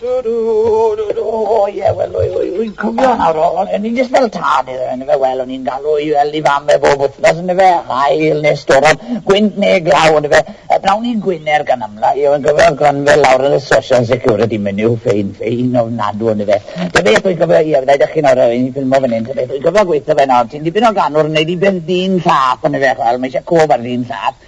Do, do, do, do, o ie, wel, rwy'n cofio nawr, o'n i'n jyst fel tad iddo fe, yn y fe, wel, o'n i'n galw i fel i fam e bob wythnos, yn y fe, hael neu storom, gwynt neu glaw, yn y fe, a blawn i'n gwyner gan amla, i o'n gofio glanfel lawr yn y social security menu, ffein, ffein ofnadw, yn y fe. Ta beth wy'n cofio, ie, fydda i ddech chi nawr, o'n i'n ffilmo fan hyn, ta beth wy'n cofio gweithio fe nawr, ti'n dipyn o ganwr yn neud i beth dyn llath, yn y fe, wel, mae eisiau cof ar dyn llath,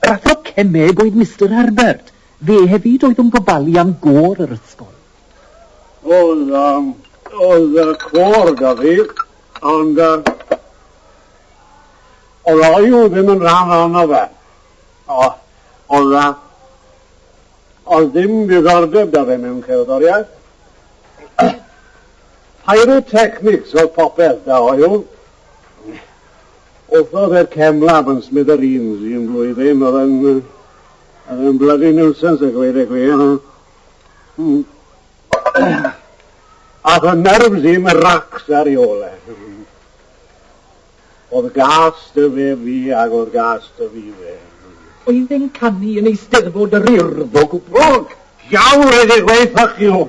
Yr athro cemeg oedd Mister Herbert. Fe hefyd oedd yn gofalu am gôr yr ysgol. Oedd, um, oedd uh, côr da fi, ond uh, oedd o i'w ddim yn rhan ono fe. O, oedd uh, oedd ddim diddordeb da fe mewn cerddoriaeth. Pyrotechnics oedd popeth da o i'w. Wrth oedd yr cefn lab yn smithereens un blwyddyn, oedd yn, oedd yn bloody nuisance a gweud y gwir. Hmm. Ath y nerves i'm racs ar i ole. Oedd gas dy fe fi ac oedd gas dy fi fe. Oedd e'n canu yn eisteddfod yr urdd o gwbl. Iawn, rhaid i gweud ffyc you.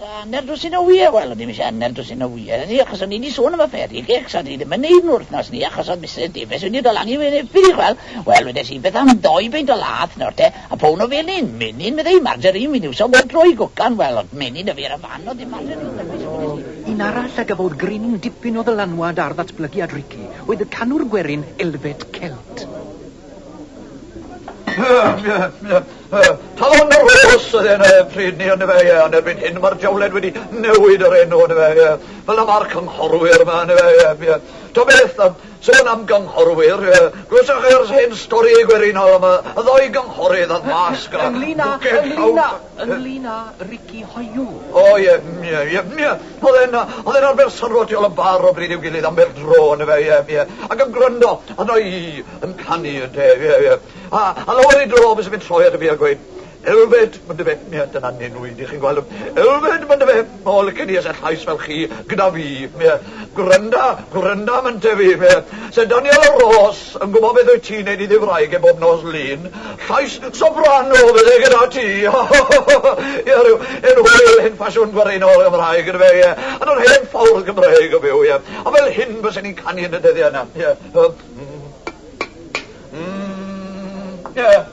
Sa hanner dwsin o wyau, wel, o'n i'm eisiau hanner dwsin o wyau, ni, achos o'n i wedi sôn am y fairy cakes, a dwi ddim yn neud nhw wythnos ni, achos oedd Misus Davies wedi dod lan i fyny erbyn i chwel, wel, wedes i, beth am ddou beint o lath nawr te, a pown o felyn, menyn, meddai hi, margarine, fi'n iwso bob tro i gwcan, wel, oedd menyn 'da fi ar y fan, oedd dim margarine 'da fi, so wedes i, Un arall a gafodd gryn dipyn o ddylanwad ar ddatblygiad Ricky oedd y canwr gwerin Elvet Celt. Talon yr Oes oedd enw e pryd ni ond efe, ie, ond erbyn hyn mae'r diawled wedi newid yr enw ond efe, ie. Fel y mae'r cynghorwyr yma ond efe, ie, ie. Ta beth, um, sôn am gynghorwyr, ie. Glywsoch e'r hen stori gwerinol am y ddoi gynghorydd a'r masg a... Ynglyn â, ynglyn â, ynglyn â Ricky Hoyw. O, ie, ie, ie, ie. Oedd e'n, oedd e'n arfer syrwo tu ol y bar o bryd i'w gilydd am bêl dro, on'd yfe, ie, ie, ac yn gwrando arno i yn canu, ynte, ie, ie. A, a lawer ei dro byse fe'n troi at y fi a gweud, Elfed, on'd yfe, ie, dyna nenwi, dych chi'n gweld 'n, Elfed, on'd yfe, o, licen i ese llais fel chi gyda fi, ie, gwranda, gwranda am ynte fi, ie, Syr Daniel o Ros, Yn gwybod beth wyt ti'n neud i dy wraig e bob nos Lun? Llais soprano fydde gyda ti! Ie, rhyw enw hwyl hen ffasiwn gwareunol Gymraeg yndyfe, ie, yn yr hen ffordd Gymreig o fyw, ie. A fel hyn bysen ni'n canu yn y dyddiau yna, ie. Ym. Ym. Ie.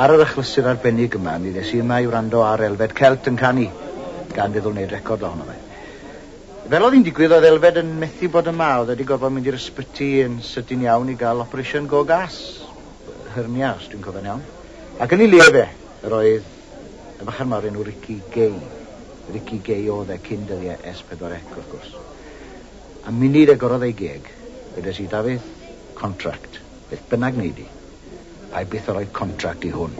Ar yr achlysur arbennig yma, mi ddes i yma i wrando ar Elfed Celt yn canu, gan feddwl wneud record ohono fe. Fel oedd hi'n digwydd, oedd Elfed yn methu bod yma, oedd e 'di gorfod mynd i'r ysbyty yn sydyn iawn i gael operation go gas, hernia os dwi'n cofio'n iawn, ac yn ei le fe, yr oedd y bachgen 'ma o'r enw Ricky Gay. Ricky Gay oedd e cyn dyddiau Es Pedwar Ec, wrth gwrs. A munud agorodd ei geg, wedes i, Dafydd, contract. Beth bynnag wnei di, pai byth â rhoi contract i hwn.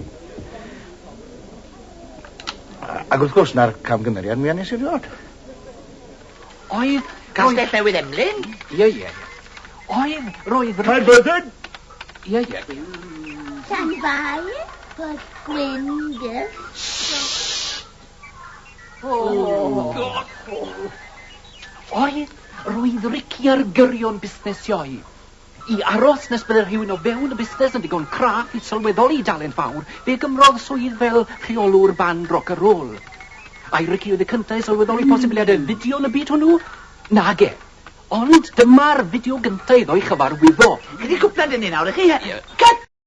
Ac wrth gwrs, 'na'r camgymeriad mwya nes i erioed. Oedd... Castell Newydd Emlyn? Ie, ie, ie. Oedd, roedd... Caer Byddin? Ie, ie. Llanfair, Port Gwyn, Dyf. Oedd, roedd Ricky ar gyrion busnes sioe. I aros nes bydde rhywun o fewn y busnes yn ddigon craff i sylweddoli dalent fawr, fe gymrodd swydd fel rheolwr band roc a rôl. Ai Ricky oedd y cyntaf i sylweddoli posibiliadau fideo yn y byd hwnnw? Nage. Ond dyma'r fideo gyntaf iddo ei chyfarwyddo. Chi 'di cwpla 'da ni nawr, y'ch chi? Cut!